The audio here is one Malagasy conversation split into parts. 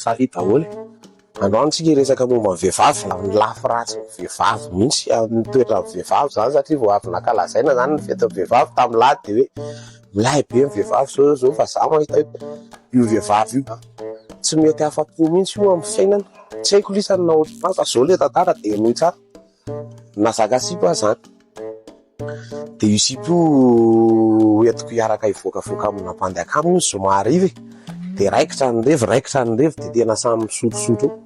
Salut daholo e! Androany tsika hiresaka momba ny vehivavy na ny lafy ratsy ny vehivavy mihitsy amin'ny toetran'ny vehivavy izany satria vao avy nankalazaina izany ny fetin'ny vehivavy tamin'ny lahy dia hoe milay be ny vehivavy izao izao izao fa za mahita hoe io vehivavy io tsy mety afa-po mihitsy io amin'ny fiainana. Tsy haiko lisany na ohatry ny maro fa izao ilay tantara dia henoy tsara. Nazaka sipa aho zany dia io sipa io hoentiko hiaraka hivoakavoaka amina bandy akaminy io zoma hariva e, dia raikitra ny revy raikitra ny revy dia tena samy misotrosotro eo,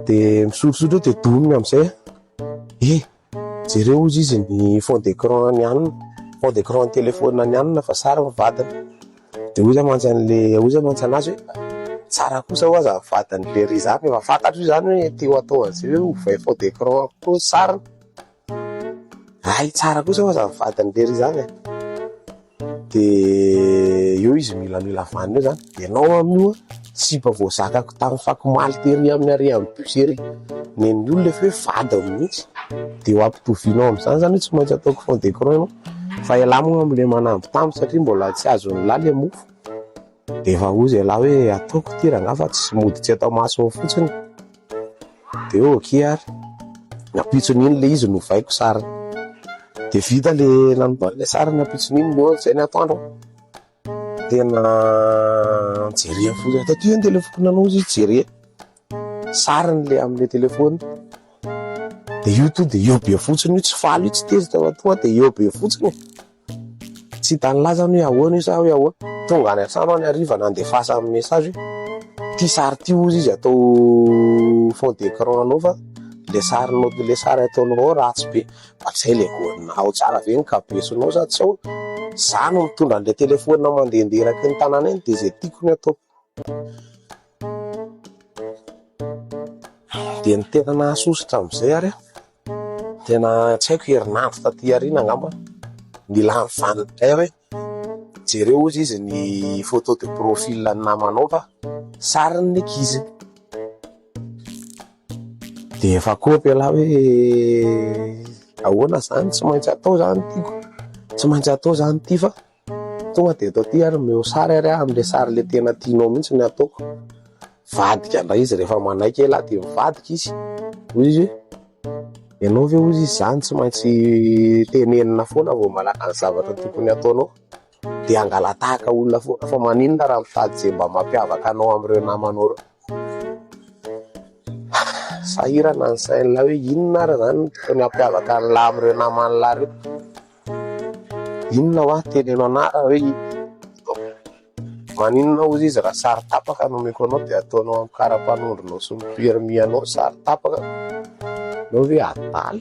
dia misotrosotro eo dia domina amin'izay aho, eh jereo hozy izy ny fond d'écran an'i Anona, fond d'écran an'ny téléphone an'i Anona fa sary ny vadiny, Dia hoy iza mantsy an'ilay, hoy iza mantsy an'azy hoe, tsara kosa ho'aho azafady an'ilay Rizà fa efa fantatro io izany hoe te ho atao an'izay hoe ovay faux d'écran koa ny sariny. Hay tsara kosa ho'aho azafady an'ilay Rizà e. Dia eo izy milamila vaniny eo izany, ianao amin'io an. tsy mba voazakako tamin'ny fakomaly tery amin'ny harehan'ny bus ery nen'ny olona efa hoe vadiny mihitsy dia ho ampitovianao amin'izany zany hoe tsy maintsy ataoko fond de cron ianao fa ialahy moa amin'ilay manamby taminy satria mbola tsy azon'ny lahy ilay mofo dia efa hoy izay lahy hoe ataoko ity rangahy fa tsy mody tsy atao maso ao fotsiny dia ok ary nampitson'iny ilay izy novaiko sariny dia vita ilay nanova ilay sariny nampitson'iny no izay ny atoandro Tena jereo fotsiny. Taty io ny telefaonina anao izy jereo. Sariny le amin'ny telefaonina. Dia io to dia eo be fotsiny io tsy faly io tsy tezitra fa tonga dia eo be fotsiny. Tsy hitan'ny laza hoe ahoana io sa hoe ahoana. Tonga any an-trano any hariva nandefasa amin'ny message hoe ity sary ity hozy izy atao fond d'écran anao fa le sarinao le sary ataonao ao ratsy be. Fa zay le goal-na. Ao tsara ve ny kabesonao sa tsy ao? Za no mitondra an'le telephone mandehandeha eraky ny tanàna eny de ze tiako no ataoko. De ny tena nahasosotra am'zay ary an, tena tsy haiko herinandro taty aoriana angamba, nilan'ny vaniny ndray aho hoe, Jereo ozy izy ny photo de profil an'ny namanao fa sarin'ny ankizy. Dia efa kopy ialahy hoe ahoana izany tsy maintsy atao izany ity ko. Tsy maintsy atao izany ity fa tonga dia eto aty ary omeo sary ary aho amin'ilay sary ilay tena tianao mihitsy ny ataoko. Mivadika indray izy rehefa manaiky ialahy dia mivadika izy. Hoy izy hoe. Ianao ve hozy izany tsy maintsy tenenina foana vao manana ny zavatra tokony hataonao? Dia hangalatahaka olona foana fa maninona raha mitady izay mba mampiavaka anao amin'ireo namanao ireo? Sahirana ny sain'lah hoe inona ary izany no tokony hampiavaka an'lah amin'ireo naman'lah ireo? Inona hoa teneno anah raha hoe inona? Maninona ozy izy raha sary tapaka no omeko anao dia ataonao amin'ny karapanondronao sy ny permis anao sary tapaka? Ianao ve adala?